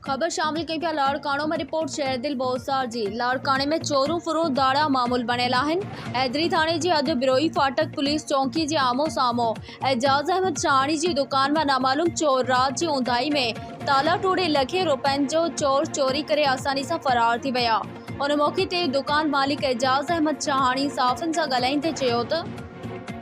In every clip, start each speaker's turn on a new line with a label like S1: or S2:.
S1: خبر شامل ڪيون ٿا لاڙڪاڻو مان رپورٽ شيردل بوساڻ جي لاڙڪاڻي ۾ چورون ڦرون ڌاڙا معمول بڻيل آهن حيدري ٿاڻي جي حد بروهي ڦاٽڪ پوليس چونڪي جي آمهون سامهون اعجاز احمد شهاڻي جي دڪان مان نامعلوم چور رات جي اونداهي ۾ تالا ٽوڙي لکين روپين جو چور چوري ڪري آساني سان فرار ٿي ويا ان موقعي تي دڪان مالڪ اعجاز احمد شهاڻي صحافين سان ڳالهائيندي چيو ته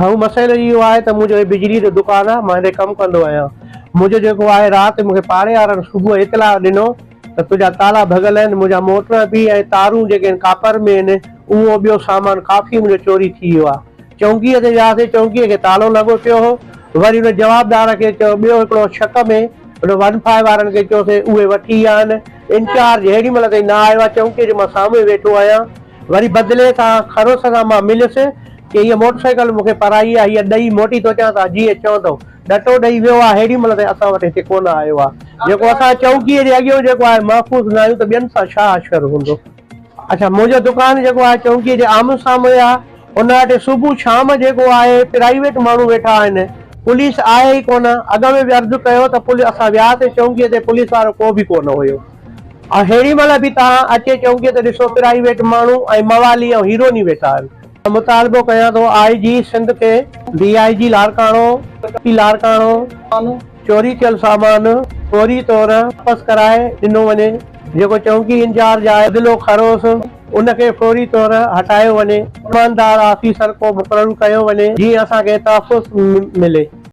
S1: هو مسئلو
S2: اهو آهي ته منهنجو هي بجلي جو دڪان آهي مان هتي ڪم ڪندو آهيان منهنجو جيڪو آهي رات مون کي پاڙي وارن صبح اطلاع ڏنو ته تنهنجا تالا ڀڳل آهن منهنجا موٽر به ۽ تارون جيڪي هن ڪاپر ۾ هن اهو ٻيو سامان ڪافي منهنجو چوري ٿي ويو آهي چونڪيء تي وياسين چونڪيء کي تالو لڳو پيو هو وري هن جوابدار کي چيو ٻيو هڪڙو شڪ ۾ هن ون فائو وارن کي چيوسين اهي وٺي ويا آهن انچارج هيڏي مهل تائين نه آيو آهي چونڪيء جو مان سامهون ئي ويٺو آهيان وري بدلي تان خروس سان مان مليس ڪي هيء موٽر سائيڪل مون کي پرائي آهي، هيء ڏئي موٽي ٿو اچان تان جيئن چوندؤ. ڏٽو ڏئي ويو آهي هيڏي مهل تائين اسان وٽ هتي ڪونه آيو آهي. جيڪو اسان چونڪيء جي اڳيئون جيڪو آهي محفوظ نه آهيون ته ٻين سان ڇا حشر هوندو. اڇا منهنجو دڪان جيڪو آهي چونڪيء جي آمهون سامهون آهي. ان وٽ صبح شام جيڪو آهي پرائيويٽ ماڻهو ويٺا آهن. پوليس آهي ئي ڪونه. اڳ ۾ به عرض ڪيو ته پوليس اسان وياسين چونڪيء تي پوليس وارو ڪو به ڪونه هيو. اهڙي مهل به توهان اچي چونگي ته ڏسو پرائيويٽ ماڻهو ۽ موالي ۽ هيروني ويٺا آهن. مطالبو ڪيان ٿو آء جي سنڌ کي ڊي آء جي لاڙڪاڻو پي لاڙڪاڻو چوري ٿيل سامان فوري طور واپس ڪرائي ڏنو وڃي جيڪو چونڪي انجارج آء بدلو کروس ان کي فوري طور هٽايو وڃي ايماندار آفيسر ڪو مقرر ڪيو وڃي جيئن اسان کي تحفظ ملي.